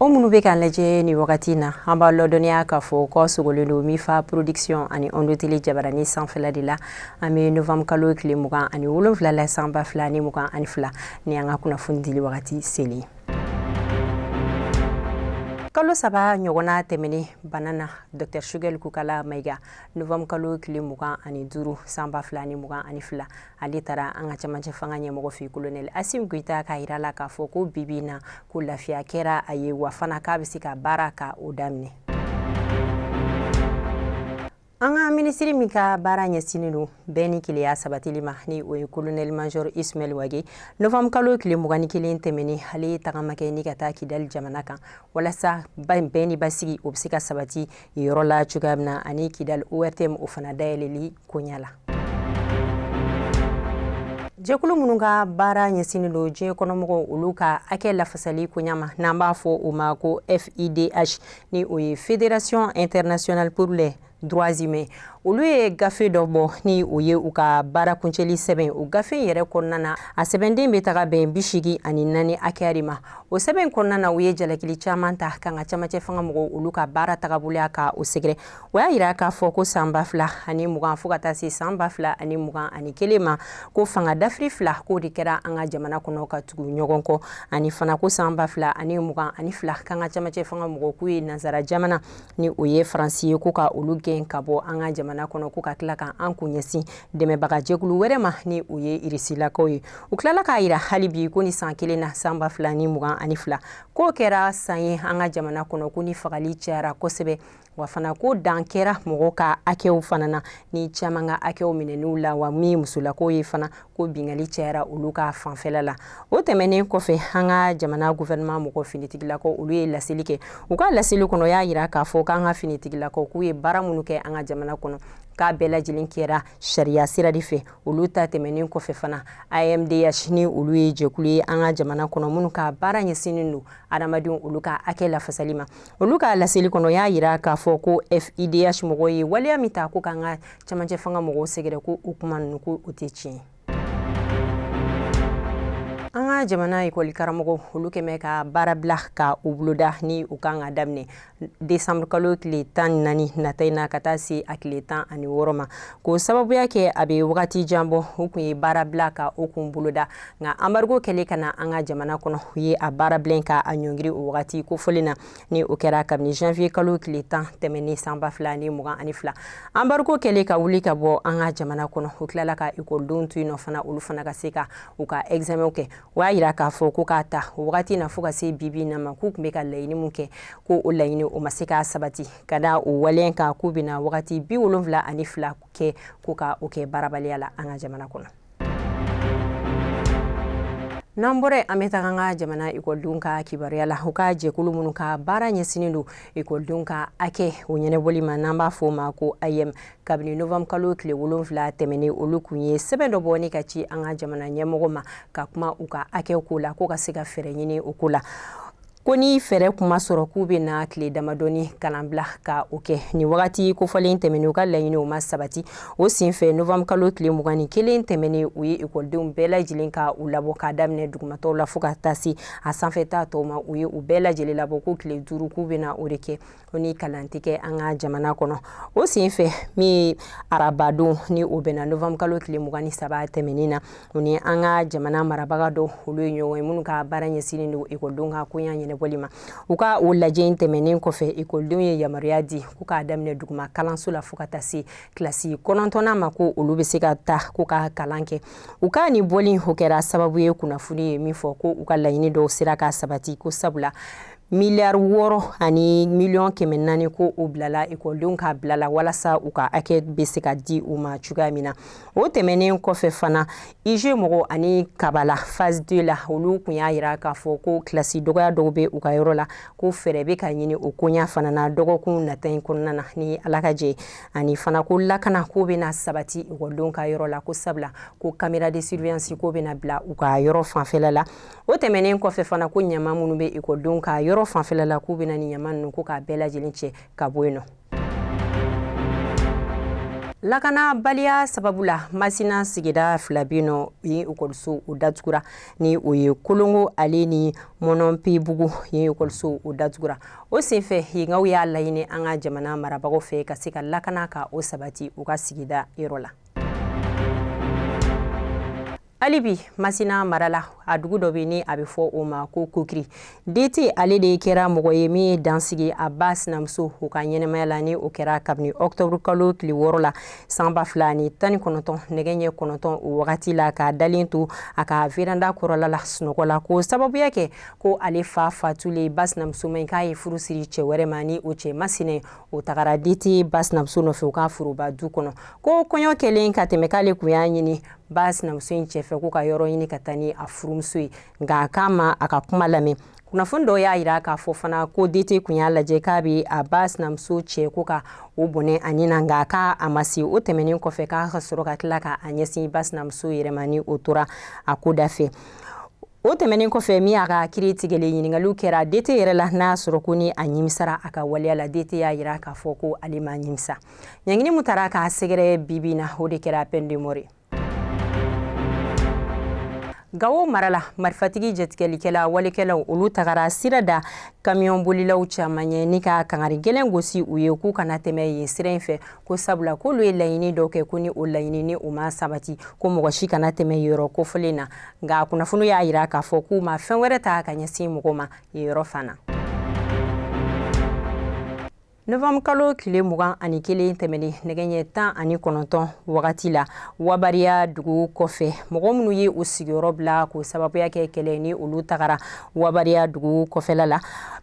aw minnu bɛ k'an lajɛ nin wagati na an b'a lɔdɔnniya k'a fɔ k'aw sogolen don mifa production ani ondotele jabaranin sanfɛla de la an bɛ novambre kalo tile mugan ani wolonwula la san ba fila ni mugan ani fila ni an ka kunnafoni dili wagati selen kalo saba ɲɔgɔnna tɛmɛnen bana na dr sogɛli kokala mayiga novanburu kalo tile mugan ani duuru san ba fila ni mugan ani fila ale taara an ka camancɛ fanga ɲɛmɔgɔ fɛ kolonɛli asim goyita k'a yira la k'a fɔ ko bi bi na ko lafiya kɛra a ye wa fana k'a bɛ se ka baara ka o daminɛ an ka minisiri min ka baara ɲɛsinnen don bɛn ni kelenya sabatili ma ni o ye kolonɛli major ismail wage novanburu kalo tile mugan ni kelen tɛmɛnen ale ye tagama kɛ ni ka taa kidali jamana kan walasa bɛn ni basigi o bɛ se ka sabati yɔrɔ la cogoya min na ani kidali ortm o fana dayɛlɛli koɲa la jɛkulu minnu ka baara ɲɛsinnen don diɲɛ kɔnɔmɔgɔw olu ka hakɛ lafasali koɲa ma n'an b'a fɔ o ma ko fidh ni o ye fédération internationale pour les droits humains olu ye gafe dɔ bɔ ni o ye u ka baara kuncɛli sɛbɛn o gafe yɛrɛ kɔnɔna na a sɛbɛnden bɛ taga bɛn bi segin ani naani hakɛya de ma o sɛbɛn kɔnɔna na u ye jalakili caman ta k'an ka camancɛ fanga mɔgɔw olu ka baara tagaboloya ka o sɛgɛrɛ o y'a yira k'a fɔ ko san ba fila ani mugan fo ka taa se san ba fila ani mugan ani kelen ma ko fanga dafiri fila k'o de kɛra an ka jamana kɔnɔ ka tugu ɲɔgɔn kɔ ani fana ko san ba fila ani mugan ani fila k'an ka camancɛ fanga mɔgɔw k'u ye nansara jamana ni o ye faransi ye ko ka olu gɛn ka bɔ an ka jamana kɔnɔ ko ka tila ka an kun ɲɛsin dɛmɛbaga jɛkulu wɛrɛ ma ni o ye irisilakaw ye u tilala k'a yira hali bi ko nin san kelen na san ba fila ni mugan ani fila k'o kɛra san ye an ka jamana kɔnɔ ko ni fagali cayara kosɛbɛ wa fana ko dan kɛra mɔgɔw ka hakɛw fana na ni caman ka hakɛw minɛn'u la wa min musolakaw ye fana ko binkanni cayara olu ka fanfɛla la o tɛmɛnen kɔfɛ an ka jamana gouvernement mɔgɔ finitigilakaw olu ye laseli kɛ u ka laseli kɔnɔ y'a yira k'a fɔ k'an ka finitigilakaw k'u ye baara minnu kɛ an ka jamana kɔnɔ k'a bɛɛ lajɛlen kɛra sariya sira de fɛ olu ta tɛmɛnen kɔfɛ fana amdh ni olu ye jɛkulu ye an ka jamana kɔnɔ minnu ka baara ɲɛsinnen don adamadenw olu ka hakɛ lafasali ma olu ka laseli kɔnɔ y'a yira k'a fɔ ko FIDH mɔgɔw ye waleya min ta ko k'an ka cɛmancɛ fanga mɔgɔw sɛgɛrɛ ko o kuma ninnu ko o tɛ tiɲɛ ye. an ka jamana ekɔli karamɔgɔw olu kɛlen bɛ ka baarabila ka o boloda ni u kan k'a daminɛ desanburu kalo tile tan ni naani nata in na ka taa se a tile tan ani wɔɔrɔ ma k'o sababuya kɛ a bɛ wagati jan bɔ u kun ye baarabila ka o kun boloda nka anbarigo kɛlen ka na an ka jamana kɔnɔ u ye a baara bilen ka a ɲɔngiri o wagati kofɔlen na ni o kɛra kabini janvier kalo tile tan tɛmɛnen san ba fila ni mugan ani fila anbarigo kɛlen ka wuli ka bɔ an ka jamana kɔnɔ u tilala ka ekɔlidenw to yen nɔ fana olu fana ka se ka u ka examen kɛ o y'a yira k'a fɔ ko k'a ta o wagati na fo ka se bibi na ma k'u tun bɛ ka laɲini min kɛ ko o laɲini o ma se k'a sabati ka da o waleya kan k'u bɛna wagati bi wolonwula ani fila kɛ ko ka o kɛ baarabaliya la an ka jamana kɔnɔ n'an bɔra an bɛ taga an ka jamana ekɔlidenw ka kibaruya la u ka jɛkulu minnu ka baara ɲɛsinnen don ekɔlidenw ka hakɛ o ɲɛnɛbɔli ma n'an b'a fɔ o ma ko ayɛm kabini novanburu kalo tile wolonfila tɛmɛnen olu kun ye sɛbɛn dɔ bɔ ni ka ci an ka jamana ɲɛmɔgɔ ma ka kuma u ka hakɛw ko la ko ka se ka fɛɛrɛ ɲini o ko la ko ni fɛɛrɛ kun ma sɔrɔ k'u bɛna tile damadɔni kalanbila ka o kɛ nin wagati kofɔlen tɛmɛnen u ka laɲini o ma sabati o senfɛ novanburu kalo tile mugan ni kelen tɛmɛnen u ye ekɔlidenw bɛɛ lajɛlen ka u labɔ k'a daminɛ dugumatɔw la fo ka taa se a sanfɛta tɔw ma u ye u bɛɛ lajɛlen labɔ ko tile duuru k'u bɛna o de kɛ ko ni kalan tɛ kɛ an ka jamana kɔnɔ o sen fɛ min arabadon ni o bɛnna novanburu kalo tile mugan ni saba tɛmɛnen na u ni an ka jamana marabaga dɔw olu ye ɲɔgɔn ye minnu ka baara ɲɛsinnen don ekɔlidenw ka koɲa ɲɛnɛbɔli ma u ka o lajɛ in tɛmɛnen kɔfɛ ekɔlidenw ye yamaruya di ko k'a daminɛ duguma kalanso la fo ka taa se kilasi kɔnɔntɔnnan ma ko olu bɛ se ka taa ko ka kalan kɛ u ka nin bɔli o kɛra sababu ye kunnafoni ye min fɔ ko u ka laɲini dɔw sera ka sabati ko sabula miliyari wɔɔrɔ ani miliyɔn kɛmɛ naani ko o bilala ekɔlidenw ka bila la walasa u ka hakɛ bɛ se ka di u ma cogoya min na o tɛmɛnen kɔfɛ fana ize mɔgɔw ani kabala phase 2 la olu kun y'a yira k'a fɔ ko kilasi dɔgɔya dɔw bɛ u ka yɔrɔ la ko fɛɛrɛ bɛ ka ɲini o koɲa fana na dɔgɔkun nata in kɔnɔna na ni ala ka jɛn ani fana ko lakana ko bɛna sabati ekɔlidenw ka yɔrɔ la ko sabula ko kamera de surveillance k'o bɛna bila u ka yɔrɔ fanfɛla la o tɛmɛnen kɔfɛ fana ko ɲama minnu bɛ ekɔlidenw ka yɔrɔ fanfɛla la k'u bɛna nin ɲama ninnu ko k'a bɛɛ lajɛlen cɛ ka bɔ yen nɔ lakanabaliya sababu la masina sigida fila bɛ n'o yen ekɔliso o datugura ni o ye kolongo ale ni mɔnɔnpebugu ye ekɔliso o datugura o senfɛ yenkaw y'a laɲini an ka jamana marabagaw fɛ ka se ka lakana ka o sabati u ka sigida yɔrɔ la hali bi masina mara la a dugu dɔ bɛ ni a bɛ fɔ o ma ko kokiri dete ale de kɛra mɔgɔ ye min ye dan sigi a ba sinamuso o ka ɲɛnamaya la ni o kɛra kabini ɔkutɔburu kalo tile wɔɔrɔ la san ba fila ni tan ni kɔnɔntɔn nɛgɛ ɲɛ kɔnɔntɔn o wagati la k'a dalen to a ka veranda kɔrɔla la sunɔgɔ la k'o sababuya kɛ ko ale fa fatulen ba sinamuso ma k'a ye furu siri cɛ wɛrɛ ma ni o cɛ masinɛ o tagara dete ba sinamuso nɔfɛ u ka foroba du kɔnɔ ko kɔɲɔ kɛlen ka tɛmɛ k'ale kun y'a ɲini ba sinamuso in cɛ fɛ ko ka yɔrɔ ɲini ka taa ni a furumuso ye nka a k'a ma a ka kuma lamɛn kunnafoni dɔw y'a yira k'a fɔ fana ko DT kun y'a lajɛ k'a bɛ a ba sinamuso cɛ ko ka o bɔnɛ a ni na nka k'a ma se o tɛmɛnen kɔfɛ k'a ka sɔrɔ ka tila ka a ɲɛsin ba sinamuso yɛrɛ ma ni o tora a ko da fɛ o tɛmɛnen kɔfɛ min y'a ka kiiri tigɛlen ɲiningaliw kɛra DT yɛrɛ la n'a y'a sɔrɔ ko ni a ɲimisara a ka waleya la DT y'a yira k'a fɔ ko ale ma ɲimisa ɲangini min tara k'a sɛgɛrɛ bibi na o de kɛra peine de mort gawo mara la marifatigi jatigɛlikɛla walekɛlaw olu tagara sira da kamiyɔn bolilaw caman ɲɛ ni ka kangari gɛlɛn gosi u ye k'u kana tɛmɛ yen sira in fɛ ko sabula k'olu ye laɲini dɔw kɛ ko ni o laɲini ninnu ma sabati ko mɔgɔ si kana tɛmɛ yɔrɔ kofɔlen na nka kunnafoni y'a yira k'a fɔ k'u ma fɛn wɛrɛ ta ka ɲɛsin mɔgɔ ma yen yɔrɔ fana novembre kalo tile mugan ani kelen tɛmɛnen nɛgɛ ɲɛ tan ani kɔnɔntɔn wagati la wabariya dugu kɔfɛ mɔgɔ minnu ye u sigiyɔrɔ bila k'o sababuya kɛ kɛlɛ ni olu tagara wabariya dugu kɔfɛla la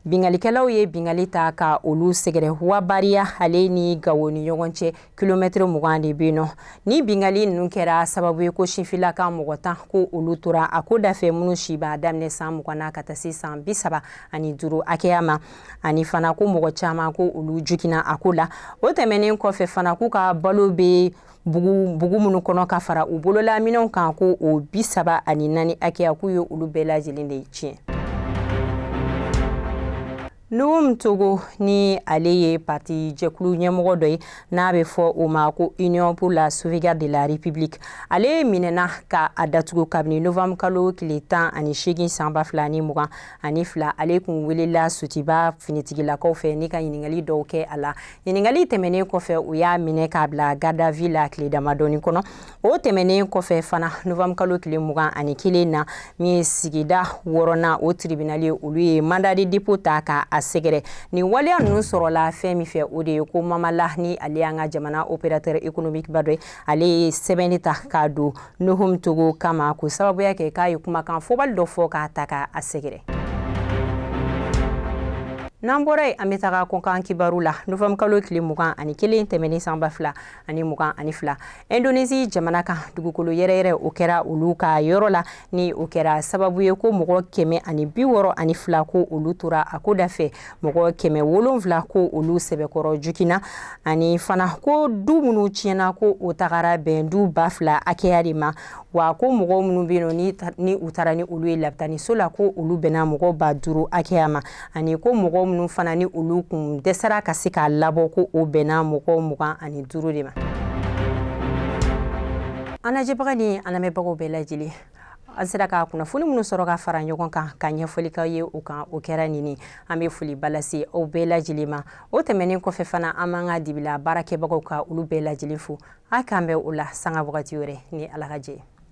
binkalikɛlaw ye binkali ta ka olu sɛgɛrɛ wabariya ale ni gawo ni ɲɔgɔn cɛ kilomɛtiri mugan de bɛ yen nɔ ni bingali ninnu kɛra sababu ye ko sinfilaka mɔgɔ tan ko olu tora a ko dafɛ minnu si b'a daminɛ san mugan na ka taa se san bi saba ani duuru hakɛya ma ani fana ko mɔgɔ caman ko olu jogina a ko la o tɛmɛnen kɔfɛ fana k'u ka balo bɛ bugu minnu kɔnɔ ka fara u bololaminɛnw kan ko o bi saba ani naani hakɛya k'u ye olu bɛɛ lajɛlen de tiɲɛ Nuhum Togo ni ale ye parti jɛkulu ɲɛmɔgɔ dɔ ye n'a bɛ fɔ o ma ko Union pour la sauvegarde de la République ale minɛna ka a datugu kabini novembre kalo tile tan ani seegin san ba fila ni mugan ani fila ale kun welela Sotuba finitigilakaw fɛ ni ka ɲininkali dɔw kɛ a la ɲininkali tɛmɛnen kɔfɛ u y'a minɛ k'a bila garde à vue la tile damadɔni kɔnɔ o tɛmɛnen kɔfɛ fana novembre kalo tile mugan ani kelen na min ye sigida wɔɔrɔnan o tiribinali olu ye mandat de dépôt ta ka a sɛgɛrɛ nin waleya ninnu sɔrɔla fɛn min fɛ o de ye ko Mama Lah ni ale y'an ka jamana opérateur économique ba dɔ ye ale ye sɛbɛnni ta k'a don Nuhum Togo kama k'o sababuya kɛ k'a ye kumakan fɔbali dɔ fɔ k'a ta ka a sɛgɛrɛ n'an bɔra yen an bɛ taga kɔkan kibaru la novembre kalo tile mugan ani kelen tɛmɛnen san ba fila ani mugan ani fila indonesi jamana kan dugukolo yɛrɛyɛrɛ o kɛra olu ka yɔrɔ la ni o kɛra sababu ye ko mɔgɔ kɛmɛ ani bi wɔɔrɔ ani fila ko olu tora a ko dafɛ mɔgɔ kɛmɛ wolonfila ko olu sɛbɛkɔrɔ jogina ani fana ko du minnu tiɲɛna ko o tagara bɛn du ba fila hakɛya de ma wa ko mɔgɔ minnu bɛ yen nɔ ni u taara ni olu ye labitaniso la ko olu bɛnna mɔgɔ ba duuru hakɛya ma ani ko mɔgɔ minnu fana ni olu kun dɛsɛra ka se k'a labɔ ko o bɛnna mɔgɔ mugan ani duuru de ma an lajɛbaga ni an lamɛnbagaw bɛɛ lajɛlen an sera ka kunnafoni minnu sɔrɔ ka fara ɲɔgɔn kan ka ɲɛfɔli k'aw ye o kan o kɛra nin an bɛ foliba lase aw bɛɛ lajɛlen ma o tɛmɛnen kɔfɛ fana an b'an ka dibila baarakɛbagaw ka olu bɛɛ lajɛlen fo a k'an bɛn o la sanga wagati wɛrɛ ni ala ka jɛ